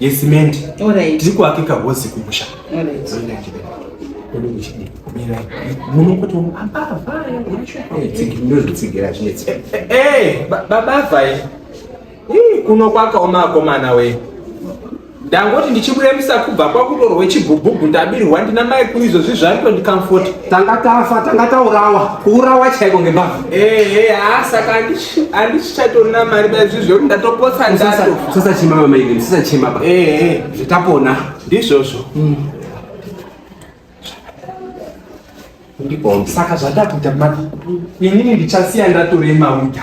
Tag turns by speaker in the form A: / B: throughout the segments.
A: yesimende tiri kuakika hozi kumusha babavai kuno kwakaoma akomana we ndangoti ndichibuda musakubva kwakutorwa chibhubhubhu ndabirwa ndina mai kuizvozvi zvaitondicomforta tanga tafa tanga taurawa kuurawa chaiko ngembavha ehe haa saka andichichatorina mari baizvi zvekuti ndatopotsa ndato sasachema mamaini sasachema ba ehe zvitapona ndizvozvo mm. ndibombi saka zvatakuita mati inini ndichasiya ndatorema uda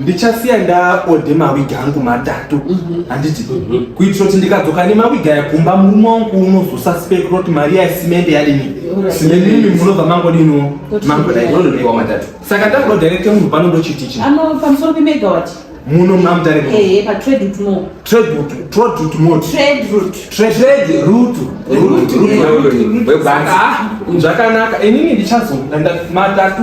A: ndichasiya ndaode mawigi angu matatu mhm. handiti mhm. kuitira kuti ndikadzoka nemawigi aya kumba murume wangu unozosaspekra kuti mari ya simende yadini simende imi munobva mangodino mangodaionodonewa matatu saka ndakuda directe munhu pano ndochiti chi pamusoro
B: pemegawati muno mamutare
A: zvakanaka inini ndichazoda matatu